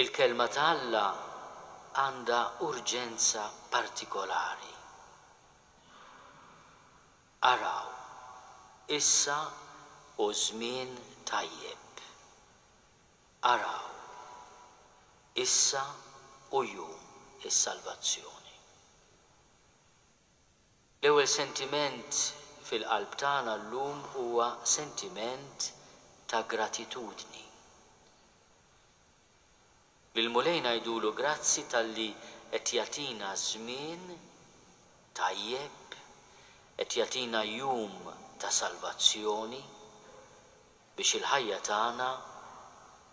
Il-Kelma ta' Alla għandha urġenza partikolari. Araw, issa hu żmien tajjeb. Araw, issa hu jum is-salvazzjoni. L-ewwel sentiment fil-qalb tagħna llum huwa sentiment ta' gratitudni. Lill-Mulej ngħidulu grazzi talli qed jagħtina żmien tajjeb, qed jagħtina jum ta' salvazzjoni biex il-ħajja tagħna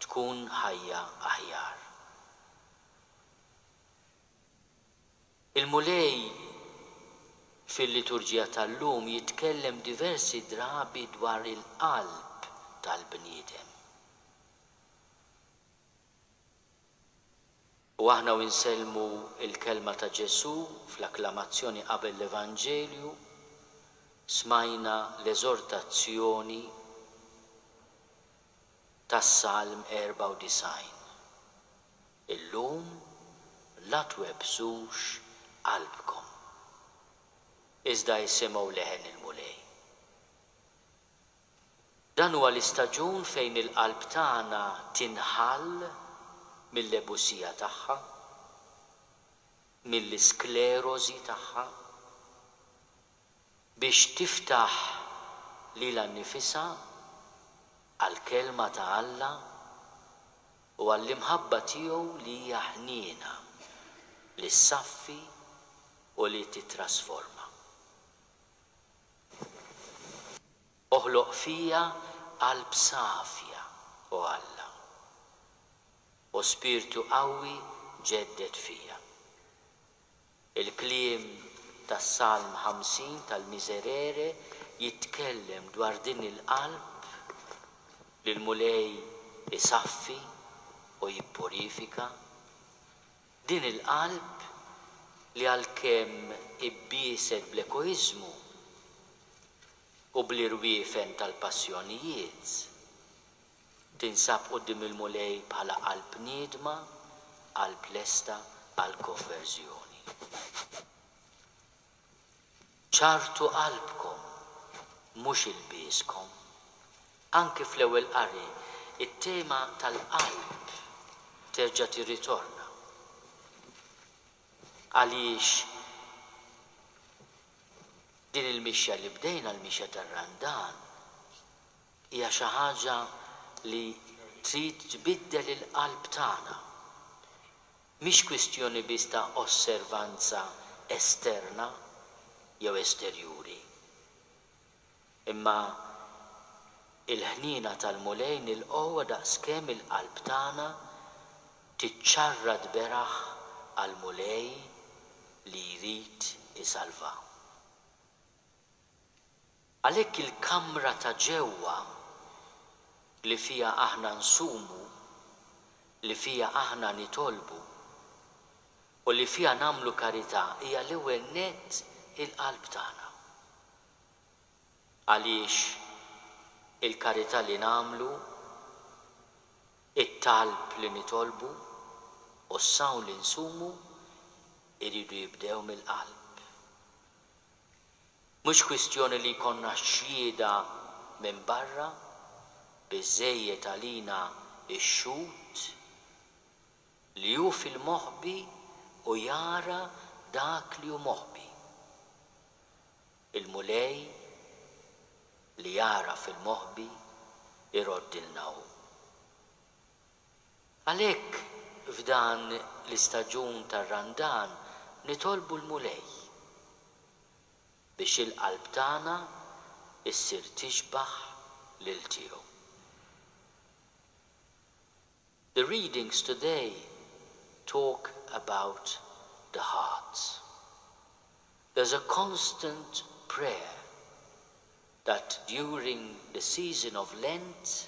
tkun ħajja aħjar. Il-Mulej fil-liturġija tal-lum jitkellem diversi drabi dwar il-qalb tal-bniedem. U aħna u nsellmu l-kelma ta' Ġesù fl-akklamazzjoni qabel l-Evanġelju, smajna l-eżortazzjoni tas-Salm 94. Illum la twebbsux qalbkom, iżda isimgħu leħen il-Mulej. Dan huwa l-istaġun fejn il-qalb tagħna tinħall mill-lebusija tagħha, mill-isklerożi tagħha. biex tiftaħ lilha nnifisha għall-Kelma ta' Alla u għall-imħabba tiegħu li hija ħniena, li ssaffi u li tittrasforma. Oħloq fija qalb safja, O Alla, u spirtu qawwi ġedded fija. Il-kliem tas-Salm 50 tal-Miserere jitkellem dwar din il-qalb li l-Mulej isaffi u jippurifika. Din il-qalb li għalkemm ibbieset bl-egoiżmu u bl-irwiefen tal-passjonijiet, Tinsab quddiem il-Mulej bħala qalb niedma, qalb lesta għall-konverżjoni. Ċarrtu qalbkom, mhux ilbieskom. Anki fl-Ewwel Qari, it-tema tal-qalb terġa' tirritorna. Għaliex din il-mixja li bdejna, l-mixja tar-Randan, Hija xi ħaġa li trid tbiddel il-qalb tagħna. Mhix kwistjoni biss ta' osservanza esterna jew esterjuri. Imma il-ħniena tal-Mulej nilqgħuha daqskemm il-qalb tagħna tiċċarrat beraħ għall-Mulej li jrid isalva. Għalhekk il-kamra ta' ġewwa li fiha aħna nsumu, li fiha aħna nitolbu, u li fiha nagħmlu karità hija l-ewwel nett il-qalb tagħna. Għaliex il-karità li nagħmlu, it-talb li nitolbu, u s-sawm li nsumu jridu jibdew mill-qalb. Mhux kwistjoni li jkollna xhieda minn barra, biżżejjed għalina x-xhud li hu fil-moħbi u jara dak li hu moħbi. Il-Mulej li jagħraf il-moħbi jroddilna hu. Għalhekk f'dan l-istaġun tar-Randan nitolbu l-Mulej biex il-qalb tagħna ssir tixbah lil tiegħu. The readings today talk about the heart. There's a constant prayer that during the season of Lent